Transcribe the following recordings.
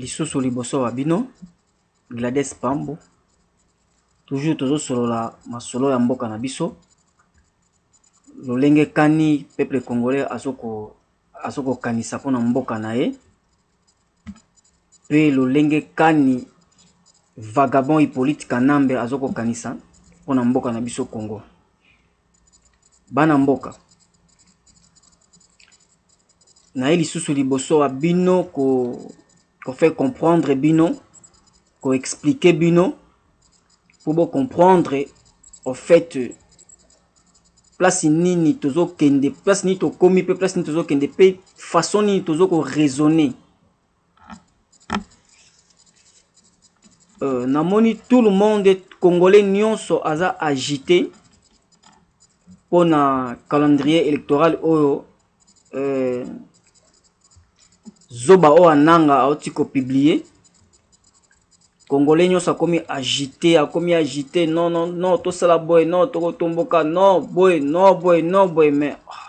lisusu liboso ba bino Gladys Pambu toujours tozo solola masolo ya mboka na biso lolenge kani peuple congolais azo ko kanisa pona mboka na ye pe lolenge kani vagabond Hyppolite Kanambe azo ko kanisa pona mboka na biso Congo. Bana mboka, naye lisusu liboso ya bino ko ko faire comprendre bino ko expliquer bino po bo comprendre au fait place nini tozo kende place nini tokomi pe place nini tozo kende pe façon nini tozo ko raisonner Euh, namoni tout le monde congolais nyonso aza agité mpo na calendrier électoral oyo euh, zoba oyo ananga auti kopublie congolais nyonso akomi agité akomi agité non non non tosala boye non tokotomboka non boye non boye non boye mais oh.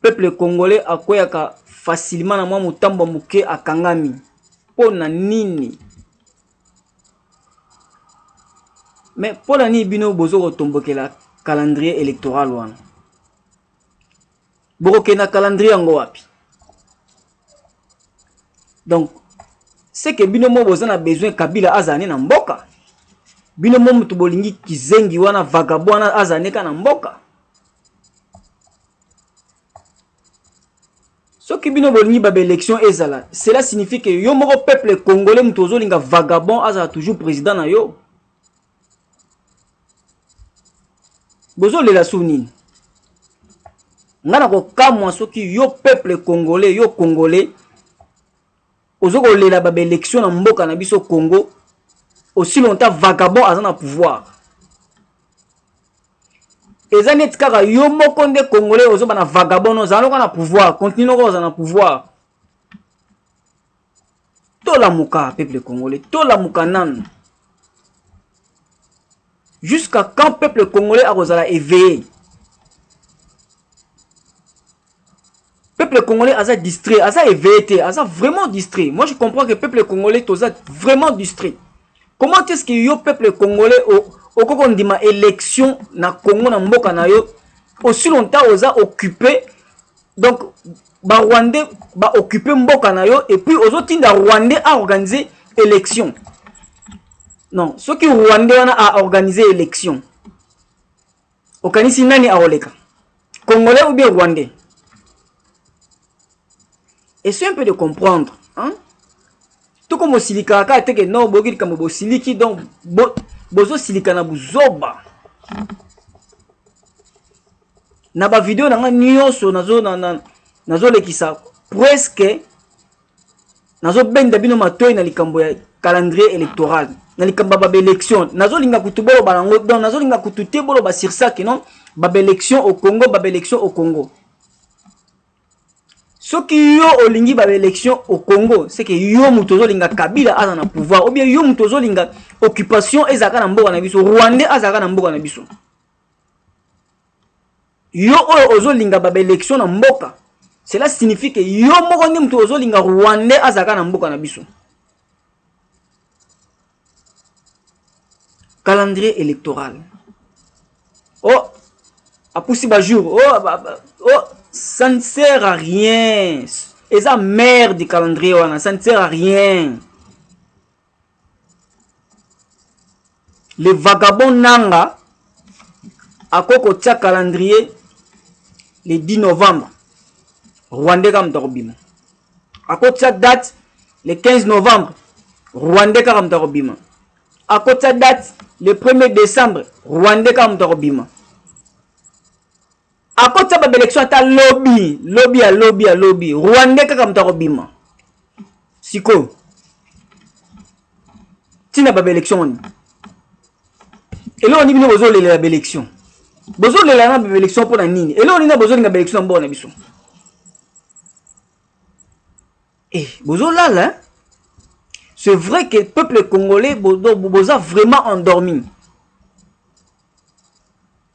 Peuple congolais akweyaka facilement na mwa mutambo muke akangami po na nini? Mais po na nini bino bozo ko tombokela calendrier electoral wana? Boko kende na calendrier yango wapi? Donc c'est que bino mo boza na besoin Kabila azala ne na mboka? Bino mo mutu bolingi kizengi wana vagabond wana azala ne ka na mboka? soki bino bolingi ba election ezala cela signifie que yo moko peuple congolais mutu ozolinga vagabond azala toujours président na yo bozolela sur nini ngai nakokamwa soki yo peuple congolais yo congolais Ozo ko lela ba election na mboka na biso Congo aussi longtemps vagabond aza na pouvoir. Eza neti kaka yo moko nde congolais ozo bana vagabond no zana na pouvoir continue noko oza na pouvoir. Tola muka peuple congolais tola muka nanu. Jusqu'à quand peuple congolais akozala éveillé? Peuple congolais aza distrait, aza éveillé te, aza vraiment distrait. Moi je comprends que peuple congolais toza vraiment distrait. Comment est-ce que yo peuple congolais okoko ndima élection na Congo na mboka na yo aussi longtemps oza occupé donc ba rwandais ba occupé mboka na yo et puis ozo tinda rwandais a organiser élection. Non, ce qui rwandais wana a organiser élection. Okanisi nani akoleka? Congolais ou bien Rwandais? Essaye un peu de comprendre. Hein? Toko mosilika kaka te que non boyoki likambo bosiliki donc bo, bozosilika na buzoba. Na ba video na nga nyonso nazo na, na, nazolekisa presque nazobenda bino matoi na likambo ya calendrier électoral na likambo ya babaélection nazolinga kutu boloba nango donc nazolinga kutu te boloba sur ça que non babaélection au congo babaélection au congo soki yo olingi babaélection au congo c'est que yo moto ozolinga kabila aza na pouvoir ou bien yo moto ozolinga occupation ezalaka na mboka na biso rwandais azalaka na mboka na biso Yo oyo ozo linga ba election na mboka cela signifie que yo moko nde mutu ozo linga rwandais azalaka na mboka na biso. Calendrier electoral. Oh apusi ba jour oh, ba, ba, oh ça ne sert à rien. Eza merde calendrier wana ça ne sert à rien. le vagabond nanga ako kotia calendrier le 10 novembre rwandais kaka moto akobima akotia date le 15 novembre rwandais kaka moto akobima akotia date le 1er décembre rwandais kaka moto akobima akotisa ba belection ata lobi lobi ya lobi ya lobi rwandais kaka moto akobima sikoyo ntina ba belection wani eloko nini bino bozolelela ba belection bozolela na ba belection mpo na nini eloko nini bozolinga ba belection na mboka na biso eh, bozolala eh? c'est vrai que peuple congolais boza vraiment endormi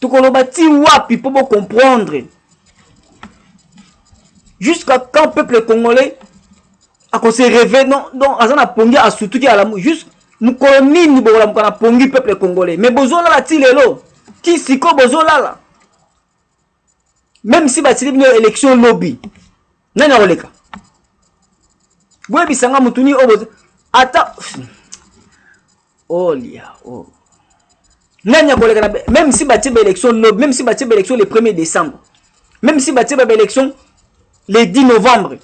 tokoloba ti wapi mpo bo comprendre jusqu'à quand peuple congolais akose reve non donc aza na pongi asutuki alamu juste mokolo nini bokolamuka na pongi peuple congolais mais bozolala ti lelo ti siko bozolala meme si batili bino election lobi nani akoleka boyebisa nga motu nini oyo ata olia oh, oh. nani akoleka na meme si batie baélection lobi meme si batie baélection le 1er décembre meme si batie baélection le 10 novembre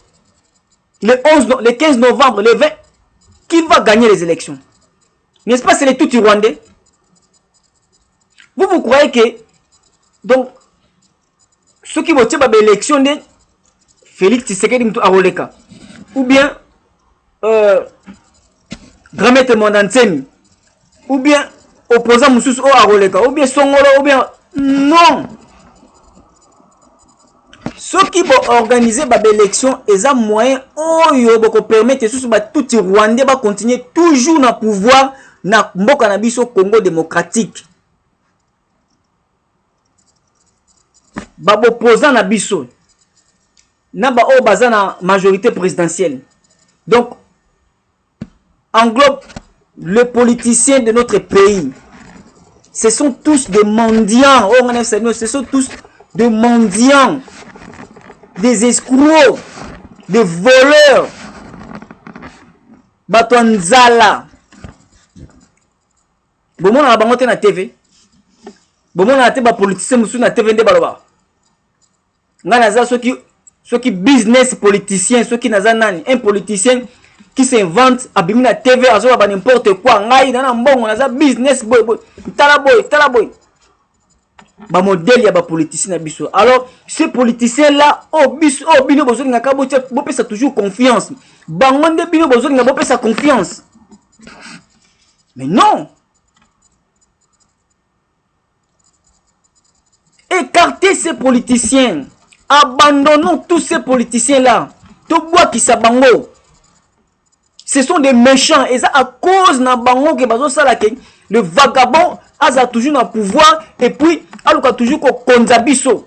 le 11 no, le 15 novembre le 20 qui va gagner les élections N'est-ce pas c'est les tout rwandais Vous vous croyez que donc soki botie ba élection nde Félix Tshisekedi mutu akoleka ou bien euh, grand maître Mwanda Nsemi ou bien opposant mosusu oyo akoleka ou bien songolo ou bien non soki bo organiser ba election eza moyen oyo boko permettre susu ba tutsi rwandais ba continuer toujours na pouvoir na mboka na biso Congo démocratique ba opposant na biso na ba oyo baza na majorité présidentielle donc englobe le politicien de notre pays ce sont tous des mendiants oyo ngai nayebisa bino ce sont tous des mendiants des escrocs des voleurs bato ya nzala bomonaka bango te na tv bomonaka te bapolitisien mosusu na tv nde balobaka nga naza soki soki business politicien soki naza nani un politicien qui s'invente abimi na tv azoba ba n'importe quoi ngai na na mbongo naza business boy boy tala boy tala boy ba modèle ya ba politicien na biso alors ce politicien là o oh, biso o oh, bino bozolingaka bopesa toujours confiance bango nde bino bozolinga bopesa confiance mais non Ecartez ces politiciens. Abandonnons tous ces politiciens-là. Tobwakisa bango. Ce sont des méchants. Et ça, à cause na bango que bazo sala que le vagabond aza toujours na pouvoir et puis aluka toujours ko konza biso.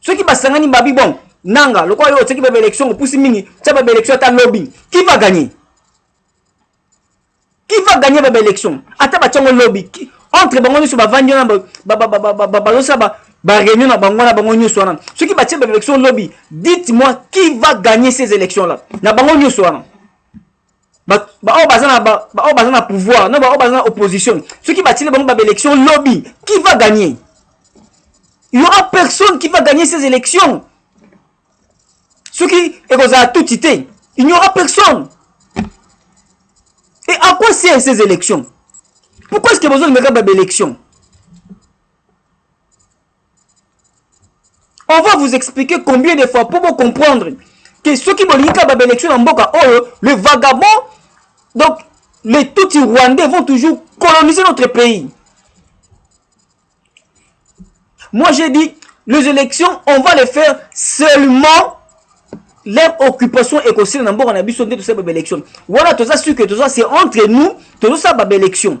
soki basangani babi bon nanga lokola yo otiaki baba élection opusi mingi tya baba élection ata lobbying qui va gagner qui va gagner baba élection ata batyango lobby entre bango nyonso bavandi wana bazosala baréunion na bango wana bango nyonso wana soki batye baba élection lobby dites moi qui va gagner ces élections là na bango nyonso wana baoyo baza na baoyo baza na pouvoir na baoyo baza na opposition soki batili bango ba élection lobby qui va gagner il y aura personne qui va gagner ces élections soki ekozala tuti te il n'y aura personne et à quoi sert ces élections pourquoi est ce que bozolingaka ba élections On va vous expliquer combien de fois pour vous comprendre que ceux qui bolingi kaka ba élection na mboka oyo oh, le vagabond donc les Tutsis rwandais vont toujours coloniser notre pays. Moi j'ai dit les élections on va les faire seulement leur occupation ekosila na mboka na biso nde tosala ba élection wana toza sur que toza c'est entre nous tozosala ba élection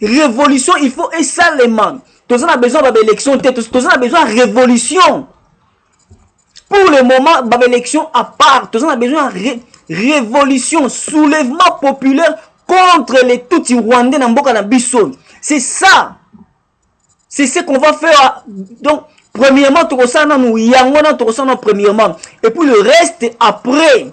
Revolution il faut esalema. Toza na besoin ba élection te, toza na besoin révolution. Pour le moment ba élection à part, toza na besoin ré, révolution, soulèvement populaire contre les Tutsi rwandais na mboka na biso. C'est ça. C'est ce qu'on va faire. Donc premièrement tokosala nanu yango na tokosala premièrement et puis le reste après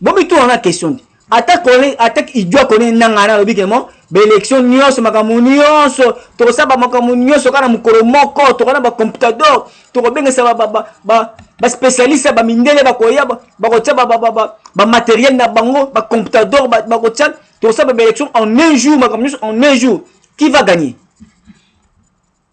bomi tuna na question te ata kole ata idwa kone nanga na lobi kemo ba election nyonso makambo nyonso tokosaba makambo nyonso kana mokolo moko tokona ba computador tokobengisa ba ba ba, ba ba spécialiste ba mindele bakoya bakotia ba ba ba ba, ba matériel na bango ba computador bakotia ba tokosaba ba election en un jour makambo nyonso en un jour qui va gagner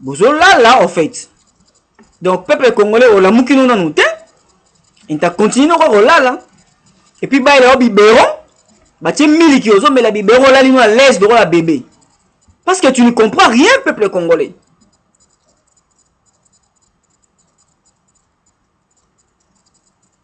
bozolala en fait donc peuple congolais olamuki no nanu te inta continue noko kolala epuis bayela yo bibero batie miliki ozomela bibero olali no alaise lokola bebe parce que tu ne comprends rien peuple congolais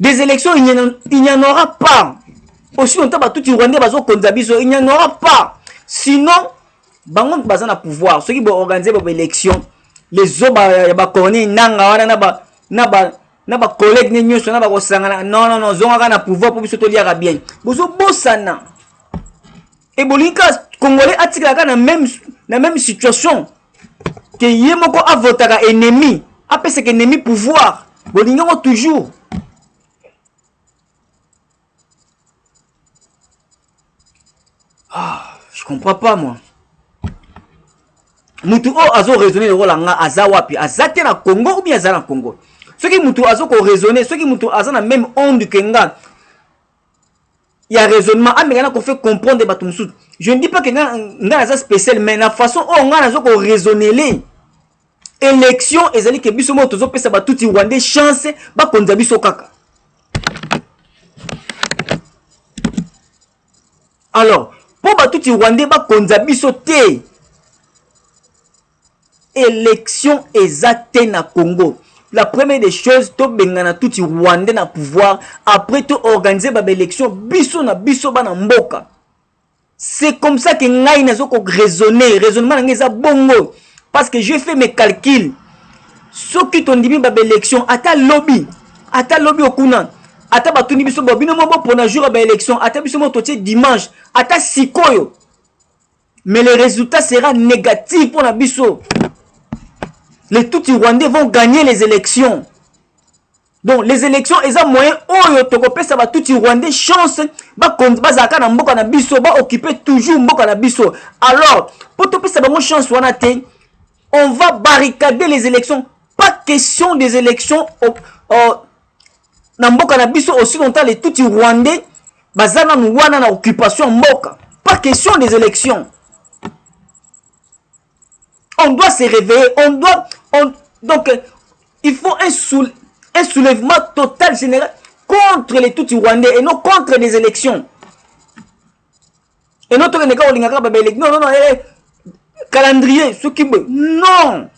des élections il n'y en aura pas aussi longtemps batuti rwandais bazokonza biso il n'y en aura pas sinon bango moto baza na pouvoir soki boorganize ba baélection les zoba ya bacorneille nanga wana na ba na ba na bacollègue ne nyonso na bakosangana non non non zongaka na pouvoir mpo biso toliaka bien bozobosana ebolingi kaka congolais atikalaka na même, na même situation ke ye moko avotaka ennemi apesaka ennemi pouvoir bolingi yango toujours ah, je comprends pas moi mutu oyo azo raisonne lokola nga aza wapi aza te na congo ou bien aza na congo soki mutu azo ko raisonne soki mutu aza na meme onde ke nga ya raisonnement ameka na ko fait comprendre bato mosusu je ne dis pas que nga nga naza spécial mais na façon oyo nga nazo ko raisonnele élection ezali ke biso moko tozopesa batuti rwandais chance bakonza biso kaka alors mpo batuti rwandais bakonza biso te Election eza te na Congo. La première des choses to bengana tutsi rwandais na pouvoir après to organiser ba election biso na biso bana mboka. C'est comme ça que ngai nazo ko raisonner, raisonnement ngai eza bongo parce que j'ai fait mes calculs. Soki to ndimi ba election ata lobby, ata lobby okuna ata batuni biso bo bino moko pona jour ya ba election ata biso moko totie dimanche ata sikoyo mais le resultat sera negatif pona biso les tuti rwandais vont gagner les élections donc les élections eza moyen oyo tokopesa batuti rwandais chance bazalaka na mboka na biso baoccupe toujours mboka na biso alors mpo topesa bango chance wana te on va barricader les élections pas question des élections au, au, na mboka na biso aussi longtemps les tuti rwandais baza nanu wana na occupation ya mboka pas question des élections on doit se réveiller on doit on, donc euh, il faut un, soule, un soulèvement total général contre les tuti rwandais et non contre des élections et non tokende kaka olingaka kaka babeleki non non non eh, eh calendrier soki boye non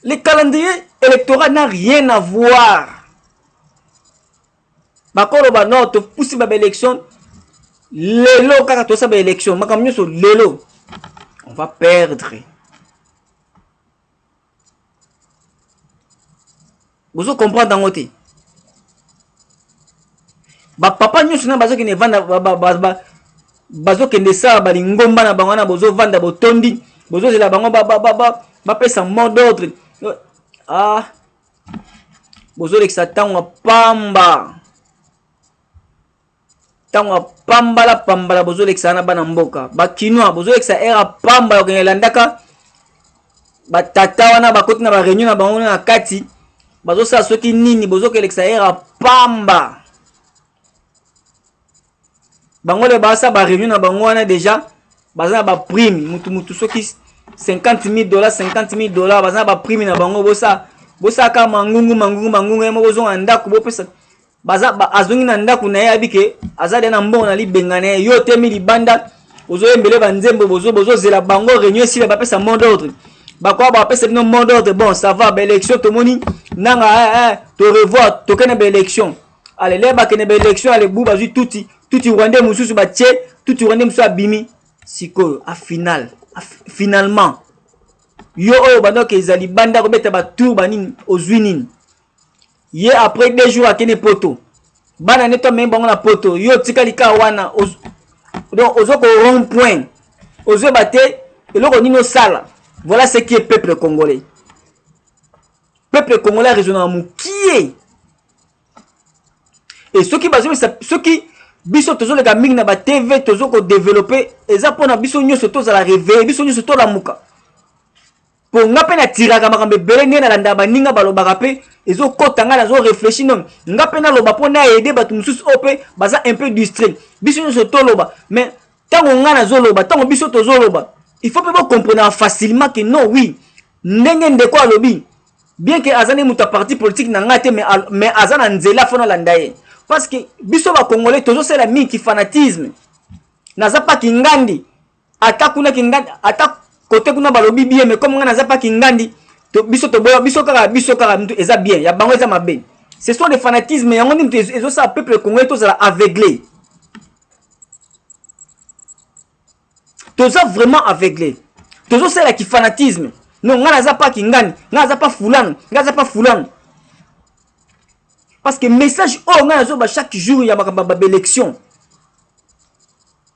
Le calendrier électoral n'a rien à voir. Bakolo ba non to pusi ba élection lelo kaka to sa ba élection makambo nyonso lelo on va perdre. Bozo comprendre yango te. Ba papa nyonso na bazo kende vanda ba, ba, ba, ba, bazo kende sala ba lingomba na bango na bozo vanda botondi, bozo zela bango ba ba ba, ba bapesa mot d'ordre. Ah bozo lekisa tango pamba. tango ya pambala pambala bozolekisa na bana mboka bakinois bozolekisa ere ya pamba ya kokende landaka batata wana bakoti na bareunion na bango na kati bazosala soki nini bozokelekisa ere ya pamba bango le baasa bareunion na bango wana deja baza na baprime mutu mutu soki 50 000 dollar 50 000 dollar baza na baprime na bango bosa bosalaka mangungu mangungu mangungu ye moko ozonga na ndako bopesa baza ba, azongi na ndako na ye abi ke aza deya na mbongo na libenga na ye yo otemi libanda ozoyembele banzembo bozozela bozo bango réunion esila bapesa mot d'ordre bakoya bapesa bino mot d'ordre bon ça va baélection tomoni nanga eh, eh, to revoir tokende baélection ale le bakende baélection ale bu bazwi tuti tuti rwandais mosusu batie tuti rwandais mosusu abimi sikoyo a final a, finalement yo oyo bandoka ezali banda kobeta batour banini ozwi nini ye après deux jours akende poto bana ne to amemi bango na poto yo otikali kaka wana donc ozo ko rond point ozoyeba te eloko nini osala voilà ce qui est peuple congolais peuple congolais aresonaka mokie e soki bazobisa soki biso tozoleka mingi na batv tozo kodevelope eza mpona biso nyonso tozala reveye biso nyonso tolamuka po nga mpe natiraka makambo ebele ndenge nalandaka baninga balobaka mpe ezokota ngai nazo réfléchi non nga mpe naloba mpo na aide bato mosusu oyo mpe baza un peu distrait biso nyonso toloba mais ntango ngai nazoloba ntango biso tozoloba il faut mpe bocomprenaka facilement que non oui ndenge ndeko alobi bien que aza nde moto ya parti politique na ngai te mais aza na nzela fo nalanda ye parce que biso bacongolais tozosala mingi kifanatisme naza mpa kingandi ata kuna kingandi ata kote kuna balobi bien mais comme nga naza pa kingandi to, biso toboya biso kaka biso kaka mtu eza bien ya bango eza mabe ce sont des fanatismes yango nde mtu ezosala peuple congolais tozala aveugle toza vraiment aveugle tozosala kifanatisme no ngai naza pa kingani ngai naza pa fulano ngai naza pa fulano parce que message oyo ngai nazoba chaque jour ya makambo ya babelections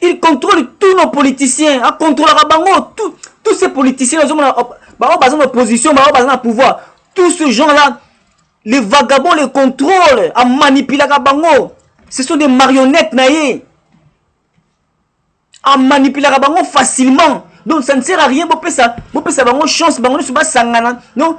il contrôle tous nos politiciens acontrôlaka bango tout, tous ces politiciens ozomona baoyo baza na opposition baoyo baza na pouvoir tout ce genre là les vagabonds les contrôle amanipulaka bango ce sont des marionnettes na ye amanipulaka bango facilement donc ça ne sert à rien bopesa bopesa bango chance bango nyonso basangana donc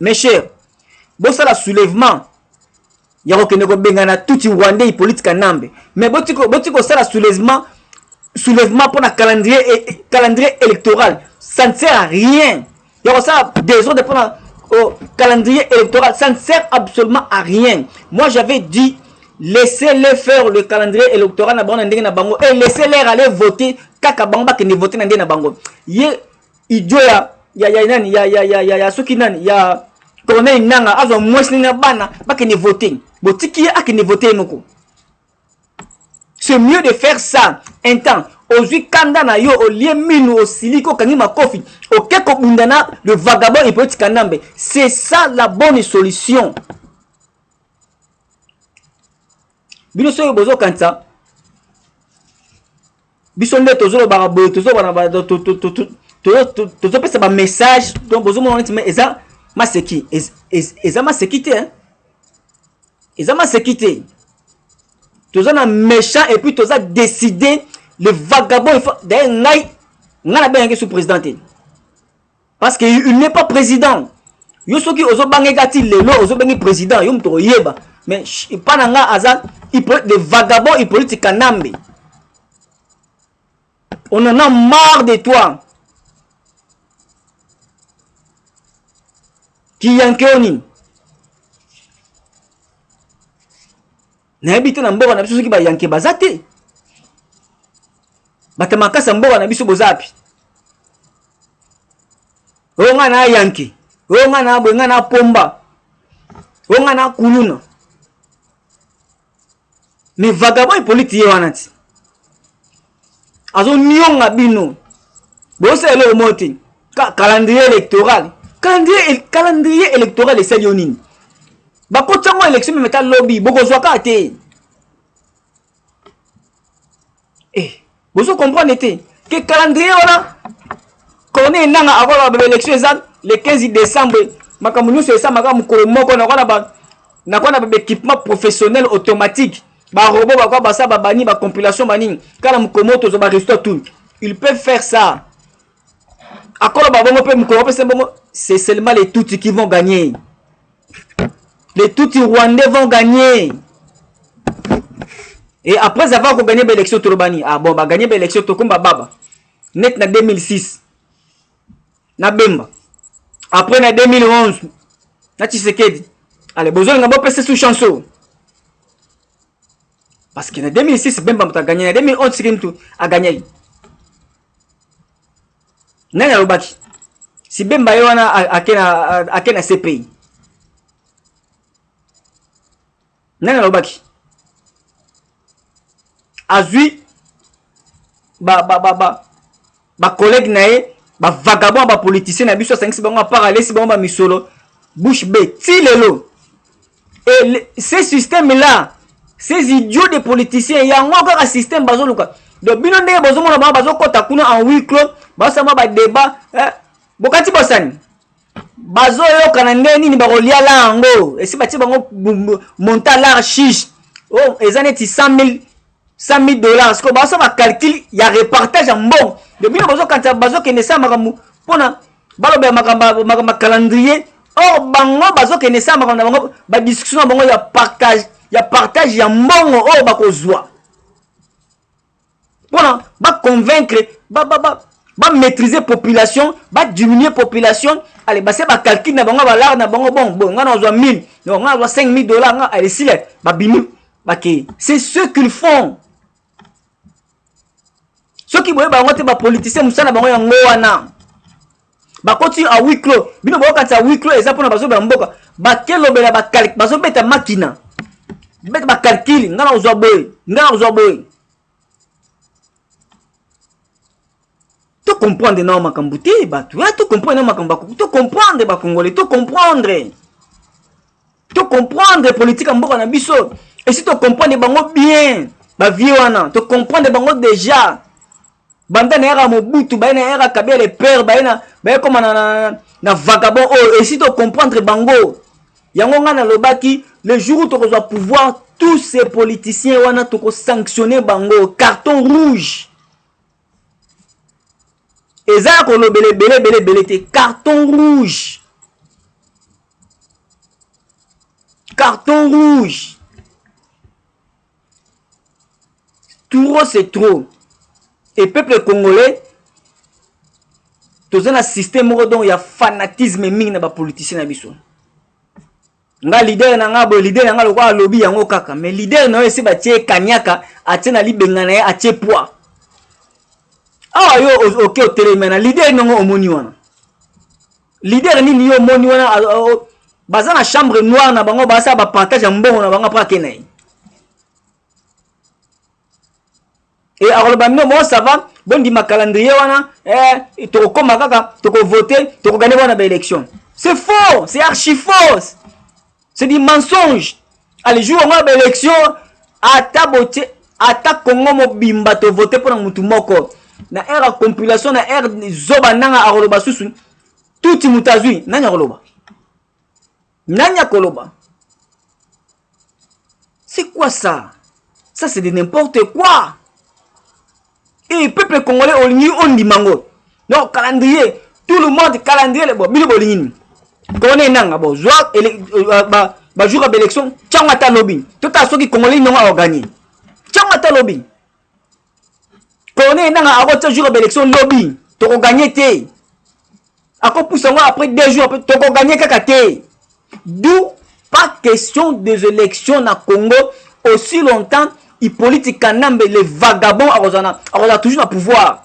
Mes chers, bosala soulèvement ya kokende kobengana tutsi rwandais Hippolyte Kanambe, mais boti kosala soulèvement soulèvement mpo na calendrier, e, e, calendrier électoral ça ne sert à rien ya kosala desordre mpo na oh, calendrier électoral ça ne sert absolument à rien moi j'avais dit laissez-les faire le calendrier électoral na bango na ndenge na bango et laissez-les aller voter kaka bango bakende voter na ndenge na bango ye idio ya ya ya nani ya ya ya ya, ya soki nani ya corneille nanga azwa mwasi nini na bana bakende vote botiki ye akende vote ye moko c'est mieux de faire ça un temps ozwi kanda na yo olie minu osiliki okangi makofi oke kobunda na le vagabond hypolite kanambe c'est ça la bonne solution bino soki bozokanisa biso nde tozolobaka boye tozopesa bamessage donc bozomona neti eza maseki eza maseki te eza maseki te toza na méchant et puis toza décide le vagabond d'ailleurs ngai ngai nabengaki sous président te parce que il n'est pas président yo soki ozobangeka ti lelo ozobengi président yo moto oyeba mais epa na nga aza de vagabond hippolyte kanambe on en a marre de toi kiyankeoni nayebi te na mboka na biso soki bayanke baza te bato makasi ya mboka na biso boza api oyo ngai na yanke oyo ngai na boye ngai na pomba oyo ngai na kuluna me vagabond epoliti ye wana ti azonionga bino bosala eloko moko te calendrier électoral calendrier électoral esali yo nini bakotisa ngo élection meme ata lobi bokozwa kaka te eh, bozo comprendre te ke calendrier wana corneille nanga akola ba élection eza le 15 décembre makambo nyonso esamaka mokolo moko nakona ba nakona ba équipement professionnel automatique ba robot ba kwa basa ba bani ba compilation banini kala mokomoto zo ba resto tout il peut faire ça akolo ba bongo pe mokolo pe bongo c'est seulement les tutsi qui vont gagner les tutsi rwandais vont gagner et après avoir ko gagner ba élection tolobani ah bon ba gagner ba élection tokomba baba net na 2006 na bemba après na 2011 na tshisekedi ale bozolinga bopesa su chance oyo parce que na 2006 bemba moto aganye na 2011 tshisekedi moto aganyaki nani alobaki si bemba ye wana ake na cpi nani alobaki azwi ba, ba, ba, ba, ba collègue na ye ba vagabond ba politicien na biso asangisi bango apart alesi bango bamisolo bouche be ti lelo et ce système là ces idiots de politiciens yango kaka système bazoluka donc bino ndenge bozomona bango bazokɔta kuna en huis clos basama badébat eh? bokati bosani bazoyoka na ndenge nini bakolia la yango esi batie bango monta lar chiche o oh, eza neti 100 000 dollars sikoyo baosa bacalcule ya repartage ya mbongo de bino bazokanisa bazokende sa makambo mpona balobela makambo ya calendrier or bango bazokende sa makambo na bango badiscussion na bango ya partage ya partage ya mbongo oyo bakozwa mpona ba convaincre ba, ba, ba, ba maîtriser population ba diminuer population ale base ba calcul na bango balare na bango bon bon nga nazwa 1000 donc nga nazwa 5000 dollars nga ale sila babimi bakei c'est ce qu'ils font soki boye bango te bapolitisien mosala na bango yango wana bakoti a huis clos bino bokokatisa huis clos eza mpona bazoba ya mboka bakelobela bazobeta makina beta bakalkile ngai nakozwa boye ngai nakozwa boye tocomprendre nao makambo te bato ya tocomprendre nao makambo tocomprendre bakongole tocomprendre to comprendre politique ya mboka na biso esi to comprendre bango bien bavie wana to comprendre bango déjà banda na yaka mobutu baye na yaka kabia le père baye na baye koma na, na, na vagabond oyo esi to comprendre bango yango ngai nalobaki le jour tokozwa pouvoir tous ces politiciens wana tokosanctionne bango carton rouge eza ya kolobela ebele ebele ebele te carton rouge carton rouge trop c'est trop et peuple congolais toza na système moko donc ya fanatisme mingi na bapoliticien na biso nga leader na nga boye leader na nga lokola alobi yango kaka mais leader na yo esi batie kaniaka atie na libenga na ye atie poids awa yo oke otelemi na leader nongo omoni wana leader nini yo omoni wana baza na chambre noire na bango basala bapartage ya mbongo na bango apres ake na ye e akoloba mino bon ça va bondima calendrier wana eh, tokokoma kaka tokovote tokogane wana baélection c'est faux c'est archi fausse c'est du mensonge ale jour yango ya baélection ata botie ata congo mobimba tovote mpo na motu moko na aire ya compilation na aire zoba nanga akoloba susu tuti moto azwi nani akoloba Nani akoloba? C'est quoi ça? Ça c'est de n'importe quoi. Et peuple congolais olingi ondima ngo. Donc calendrier, tout le monde calendrier bon bino bolingi nini? Kone nanga bo zwa euh, ba ba jour ba élection, tiango ata lobi. Tota soki congolais nonga organi. Tiango ata lobi. corneille nanga akotia jour ya baelection lobi tokoganye te akopusa yango après deux jours après tokoganye kaka te d'où pas question des élections na congo aussi longtemps hippolyte kanambe le vagabond akozala toujours na pouvoir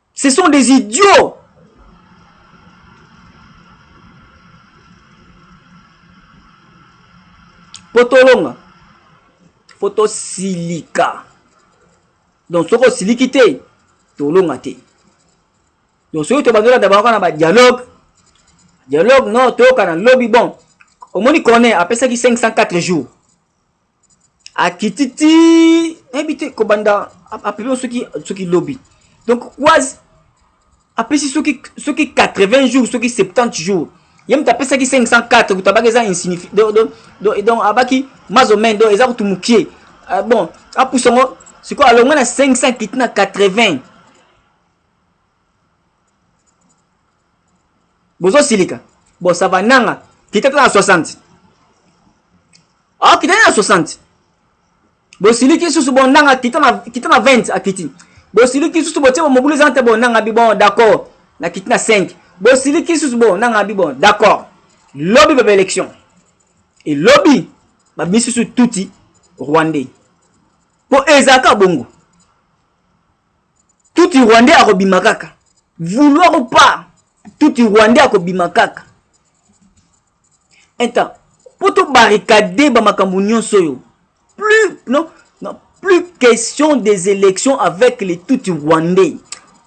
ce sont des idiots po tolonga fo tosilika donc soki osiliki te tolonga te donc soki tobandi olanda bango kaka na badialogue dialogue no toyokana lobi bon omoni corner apesaki 504 jours akiti ti nayebi te kobanda apelio soki soki lobi donc quasi apesi soki soki 80 jours soki 70 jours ye moto apesaki 504 kutu abaki eza insignifi donc abaki mazomen donc eza kutu mokie euh, bon apusa yango sikoyo alongwe na 500 kiti na 80 bozo silika bon ça va nanga kita tala 60 akita na 60 bosiliki susu bon nanga kita na kita na 20 akiti bosiliki susu botie mobulu eza te bon nanga bi bon d'accord na kiti na 5 bosiliki susu bon nanga bi bon d'accord lobi baba élection et lobi babimisi susu tuti rwandais mpo ezalaka bongo tuti rwandais akobima kaka vouloir ou pas tuti rwandais akobima kaka intan mpo tobarricade bamakambo nyonso oyo plus non, non plus question des élections avec les tuti rwandais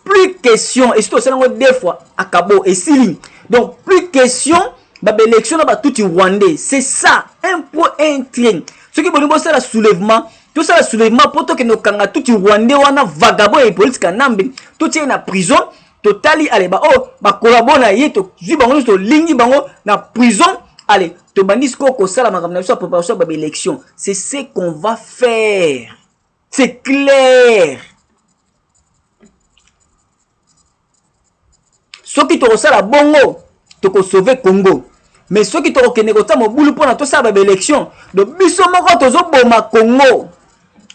plus question esi tosala yango deux fois akabo esili donc plus question babaélection na batuti rwandais c'est ça un point un train soki bolingi bosala soulèvement tosala soulèvement mpo tokende kokanga tuti rwandais wana vagabond ya hippolyte kanambe totie ye na prison totali ale baoyo oh, bakolabo na ye tozwi bango nyonso tolingi bango na prison ale tobandi sikoyo kosala makambo na biso ya préparation ya babaélection c'est ce qu'on va faire c'est clair soki tokosala bongo tokosauve congo mais soki tokokende kotia mobulu mpona tosala ba baélection do biso moko tozoboma congo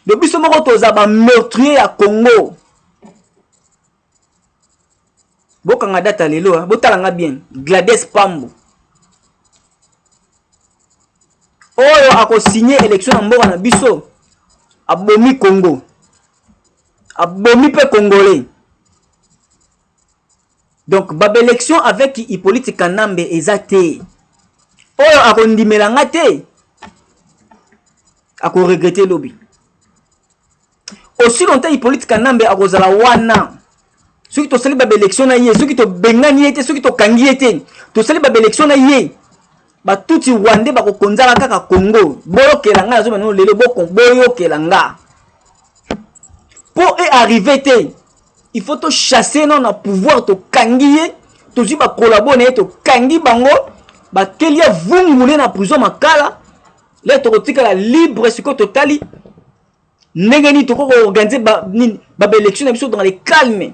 do biso moko toza bameurtrier ya congo bokanga data lelo eh? botala nga bien glades pambo oyo akosigne élection na mboka na biso abomi congo abomi pe congolais donc ba b'election avec hippolyte kanambe eza te oyo akondimela nga te akoregrete lobi aussi longtemps hippolyte kanambe akozala wana soki tosali ba b'election na ye soki tobengani ye te soki tokangi ye te tosali ba b'election na ye batutsi rwande bakokonzaka kaka congo boyokela nga nazoba nano lelo boyokela nga mpo e arrive te il faut tochasse nao na pouvoir tokangi ye tozwi bakolabo na ye tokangi bango bakeli ya vungule na prison makala le tokotikala libre sikoyo totali ndenge nini tokoki koorganize babaelection ba na biso dans le calme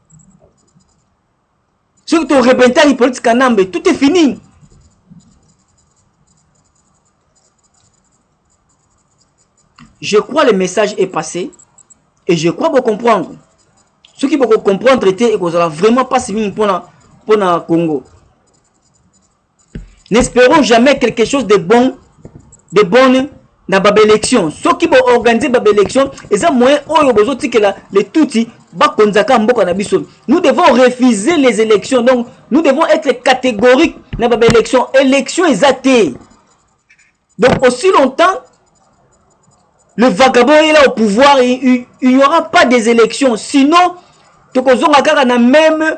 soki to rebenta Hippolyte Kanambe tout est fini je crois le message est passé et je crois bo comprendre soki boko comprendre te ekozala vraiment mpasi mingi mpona mpona Congo N'esperons jamais quelque chose de bon, de bonne na ba élection. Soki bo organiser ba élection, eza moyen oyo bozo tikela les tutsi bakonzaka mboka na biso. Nous devons refuser les élections. Donc nous devons être catégoriques na ba élection. Élection eza te. Donc aussi longtemps le vagabond est là au pouvoir, il n'y aura pas des élections. Sinon, tokozonga kaka na même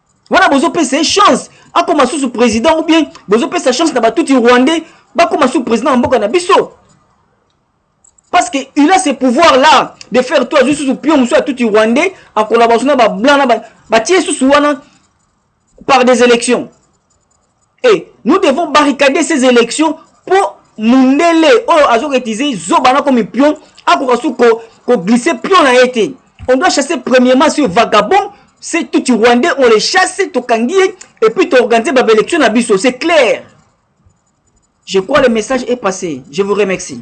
wana bozopesa ye chance akoma susu président ou bien bozopesa chance na batuti rwandais bakoma susu président ya mboka na biso parce que il a ce pouvoir là de faire tout azwi susu pio mosusu ya tuti rwandais akolaba susu na bablanc na batie susu wana par des élections et nous devons barricader ces élections mpo mundele oyo azoketize zoba na komi pion akoka su koglise ko pion na ye te on doit chasser premièrement ce vagabond ce tuti rwandais on les chasse tokangi ye et puis toorganize babaélection na biso c'est clair je crois le message est passé je vous remercie